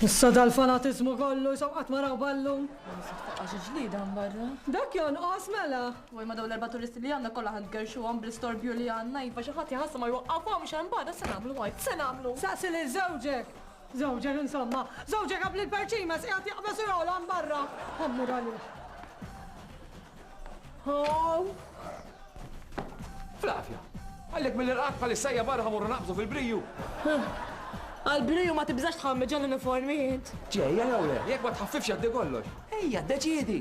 Issa dal-fanatiżmu kollu jisaw qatt ma raw ballu. Għax ġlida barra. Dak jonqos mela. Waj ma daw l-erba' turisti li għandna kollha ħad gerxuhom bl-istorbju li għandna jifa xi ħadd jħassa ma jwaqqafhom x'hemm barra se nagħmlu għajt se nagħmlu. Saqsi lil żewġek. Żewġek insomma. Żewġek qabli l-perċimes qiegħed jaqbeż u jogħla barra. Ħammur għalih. Flavia, għallek mill-irqad pal-issajja barra ħamurru naqbżu fil-briju. Għal-briju ma tibżax tħammi ġan uniformi jint. Ġeja jew le, jek ma tħaffifx għaddi kollox. Ejja, deċidi.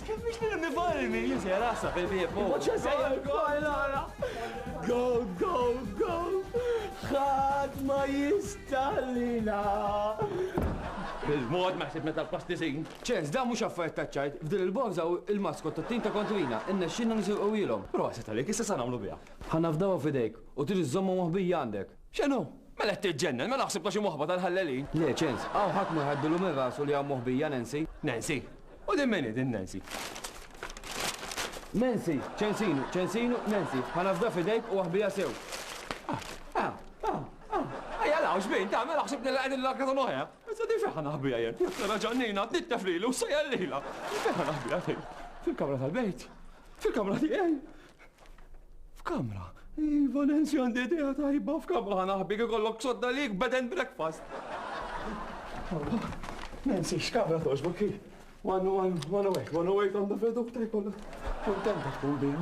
Kif biex nirmi varmi, jien sejjer għassa fil-bieb. Imma ċe sejjer bħajlara. Go, go, go. Ħadd ma jistallina. Il-mod ma ħsib meta l-pastizin. ċens, da mhux affarijiet ta' ċajt, f'din il-bonza u il-maskot ta' tim ta' kontrina, inna xinna nisirqu ilhom. Proset għalik, issa sa nagħmlu biha. Ħanafdawa f'idejk u trid iżżommha moħbija għandek. X'inhu? Mela qed tiġġennen, mela ħsib ta' xi moħba tal-ħallelin. Le, ċens, hawn ħadd ma jħaddilu minn rasu li hawn moħbija Nancy. Nancy? U din min hi din Nancy? Nancy, ċensinu, ċensinu, Nancy, ħa nafda f'idejk u aħbija sew. Ah, ah, ah, ah. Ejja law xbin, ta' mela ħsib nilla qegħdin l-akra ta' noħja. Issa di fiħa naħbija jien. Nara ġannina, tittef lili u sejja lila. Fiħa naħbija jien. Fil-kamra tal-bejt. Fil-kamra tiegħi. F'kamra, Iva Nancy għandi idea tajba f'kamra ħanaħbi ikollok sodda lik bed and breakfast. Nancy, x'kamra toġbok hi? One, one, one away, one away from the vedu ta' jkollok. Kontenta tkun bija.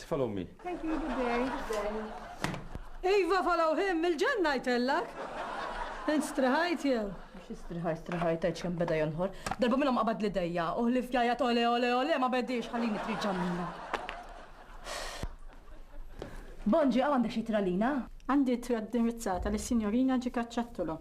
Tfal ommi. Thank you, good day. Good day. Iva follow him, il-ġen ngħidtellek. Int striħajt jew? Xi striħajt, striħajt għedx kemm beda jonħor. Darba minnhom qabad li dejja, uħli f'jajja tole ole ole ma bedix ħallini trid ġamina. Bonġi għandek xi tralina? Għandi tra dirizzata lis-Sinjorina Ġikaċċattolo.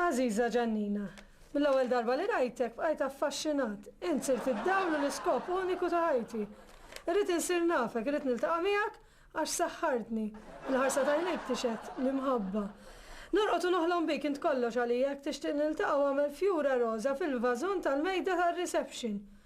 Għażiża Ġannina, mill-ewwel darba li rajtek bqajt affaxxinat. Int sirt id-dawl u l-iskop uniku ta' ħajti. Irrid insir nafek, irrid niltaqa' miegħek għax saħħartni. Il-ħarsa t'għajnejk tixhed l-imħabba. Norqod u noħlom bik, int kollox għalija, jekk tixtieq niltaqa' u agħmel fjura roża fil-vażun tal-mejda tar-reception.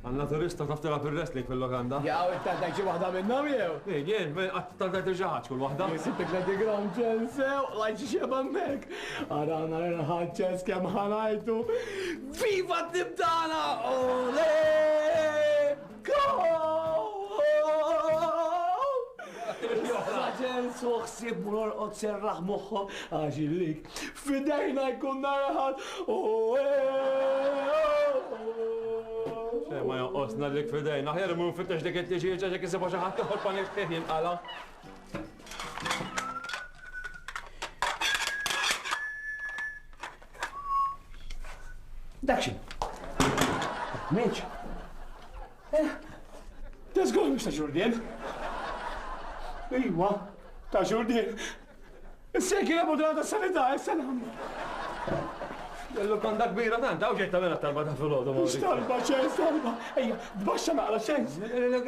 Għan-naturista taf tilgħab ir-wrestling fil-lukanda? Jaqaw it-tantgħin xi waħda minnhom jew? Min, jien? Qatt tantgħin tilxaqħax kull waħda. Jien sibt il-Classic Ground ċens sew, rajt xi xebgħa hemmhekk. Ara ara l-irħad ċens kemm ħa ngħajtu. Viva t-tim tagħna! Ole! Goal! Issa ċens hu ħsieb mur orqod serraħ moħħok għax illik F'idejna jkun nhar Aħad, Xejn ma jonqos ngħallik f'idejna. Aħjar immur nfittex dik it-tliġieġa jekk isibha xi ħadd ieħor panik fih jinqala'. Dak xi? Minċ? Eh, ta' żgur mhux ta' Ġurdien. Iva, ta' Ġurdien. Issa jekk jilagħbu drata sanità, issa nagħmlu. L-lukanda kbira tant, għaw xejn tagħmel talba ta' filgħodu. Mhux talba xejn, talba. Ejja, tbaxxa naqra xejn.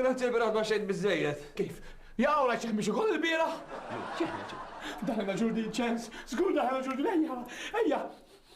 Grazzi l-bira tbaxxejt biżejjed. Kif? Jaqgħu la xejn biex ukoll il-bira? Daħna ġurdin ċens, żgur daħna ġurdin ejja, ejja.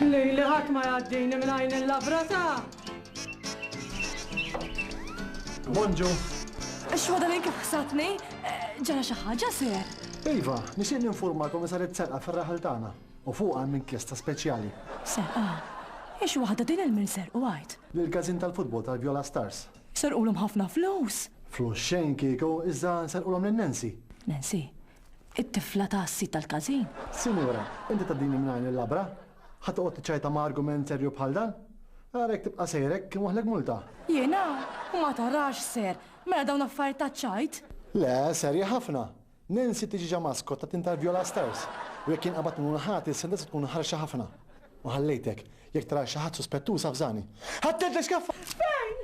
Lejli ħadd ma jgħaddini minn għajn il-labra ta'. Bonġu. Xwada li kif ħsatni, ġara xi ħaġa seher. Iva, nixtieq ninfurma li saret serqa fir-raħal tagħna u fuqha hemm inkjesta speċjali. Serqa? Ix waħda din il-min serqu għajt? Lil każin tal-futbol tal-Viola Stars. Serqulhom ħafna flus. Flus xejn kieku, iżda serqulhom lil Nancy. Nancy? It-tifla ta' s-sid tal-każin? Sinjura, inti tgħaddini minn għajn il-labra? Ħa toqgħod tiċċajta ma' argument serju bħal dan? Ara jekk tibqa' sejr hekk inwaħħlek multa. Jiena? U ma tarax ser, mela dawn affarijiet taċ-ċajt? Le, serji ħafna. Nancy tiġi ġa maskot ta' tim tal-Viola Stars u jekk jinqabad minnu l-ħati s-sentenza tkun ħarxa ħafna. U ħallejtek. Jekk tara xi ħadd suspettuż avżani. Ħadd int l-iskaffa! Fejn?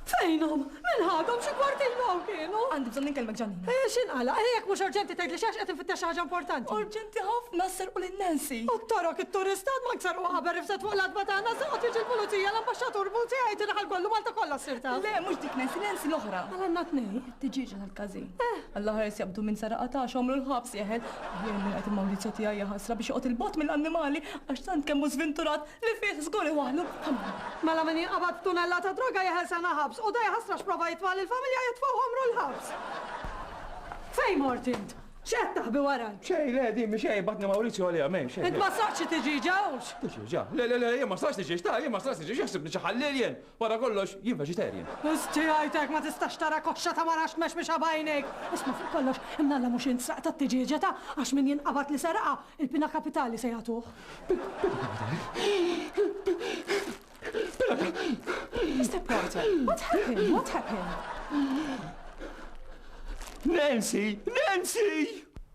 Fejnhom? Min ħadhom xi kwartin hawn kienu? Għandi bżonn inkellmek Ġanina. Eh, x'inqala? Eh, jekk mhux urġenti tgħidli xi għax qed infittex xi ħaġa importanti. Urġenti ħafna sserqu lil Nancy. U t-torok it-turistat ma ksarqu qabel rifset fuq l-adba tagħna saqgħet jiġi l-pulizija l-ambaxxatur Buzzi jgħid inħal kollu Malta kollha ssir taf. Le, mhux L-influenzi l-oħra. Għala għandna tnejn? It-tiġieġa tal-każin. Eh! Alla ħares jaqbdu minn saraqa ta' xomru l-ħabs jeħel. Jien min qed Mawrizio tiegħi jaħasra biex joqgħod il-bogħod mill-annimali għax tant kemm hu żvinturat li fih żgur iwaħħlu ħamra. Mela min jinqabad b'tunellata droga jeħel sena ħabs u da jaħasra x'prova jitfa' lill-familja jitfgħu ħomru l-ħabs. Fejn mort int? X'qed taħbi warajk? Xejn, le, din mhi xejn, batni Mawrizio għaliha m'hemm xejn. Int ma sraħtx it-tiġieġa, hux? Tiġieġa? Le, le, le, jien ma sraħtx tiġieġ ta', jien ma sraħtx tiġieġ, jaħsibni xi ħalliel jien. Wara kollox, jien vegetarian. Wisq ġie jgħid hekk, ma tistax tara koxxa ta' mara xmexmexa b'għajnejk! Isma' fuq kollox, imnalla mhux int sraqt għat-tiġieġa ta', għax min jinqabad li seraqha, il-pina kapitali se jagħtuh. Pina kapitali? Pina kapitali? Mister Porter, what happened? What happened? Nancy! Nancy!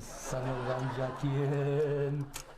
Salam Ramjatien.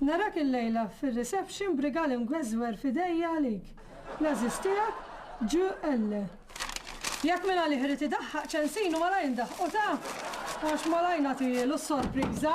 Narak il-lejla fir-reception brigali mgweżwer f'idejja għalik. L-għażiż tiegħek ġu elle. Jekk minn għalih irid idaħħaq ċensinu malajr ndaħħqu ta' għax malajr nagħtilu s-sorpriża.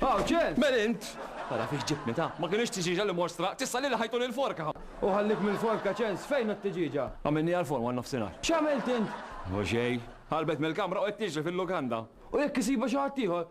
Aw, ċe, men int! Tara fiex ġibni ta' ma kienx tiġiġa li mostra, tista' li ħajtu lil forka. U ħallik mill-forka ċens, fejn t tiġiġa? Għamilni għal-forma nofsinhar. X'għamilt int? U xej, ħarbet mill-kamra u qed tiġri fil-lukanda. U jekk isibu xi ħadd ieħor,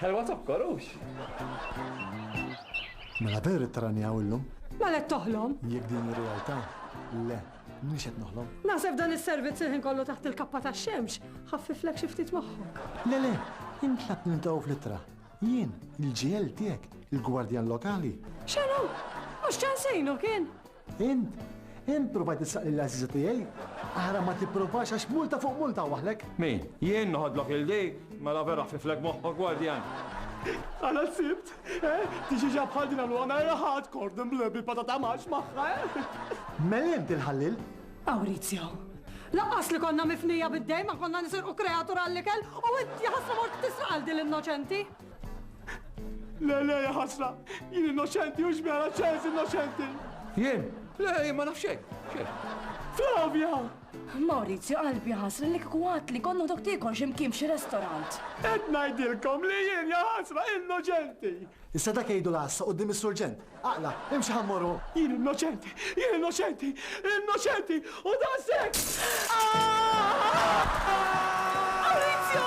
Ħelwa zokkor, hux? Mela vera qed tarani hawn illum? Mela qed toħlom? Jekk din hi realtà, le, m'iniex qed noħlom. Naħseb dan is-servizz il-ħin kollu taħt il-kappa tax-xemx ħaffiflek xi ftit moħħok. Le le, int tlab niltaqgħu fl-ittra. Jien, il-GL tiegħek, il-gwardjan lokali. X'inhu? Mhux ċansejnu kien? Int? Int provajt issaq lil għażiża tiegħi? Ara ma tipprovax għax multa fuq multa waħlek! Min? Jien noħodlok il dik? Mela vera ħfiflek moħħok gwardjan! Ara s-Sibt, eh? Tiġiġa bħal din għamluha mera hardcore din bil-patata max magħha, eh? Mel int il-ħallil? Maurizio, laqqas li konna mifnija bid-dejn ma konna nisirqu kreatur għall-ikel u int jaħasra mort tisraq għal din l-innoċenti! Le, le, ħasra, jien innoċenti u xbera ċens innoċenti. Jien? Le, jien ma nafxej. Flavia! Maurizio, qalbi ħasra li kwat li konnu dok tikol ximkien xi restorant. Et najdilkom li jien ja ħasra innoċenti. Issa dak jgħidu l-għassa qudiem is-surġent. Aqla', imxi ħa mmorru! Jien innoċenti! Jien innoċenti! Innoċenti! U daqshekk! Maurizio!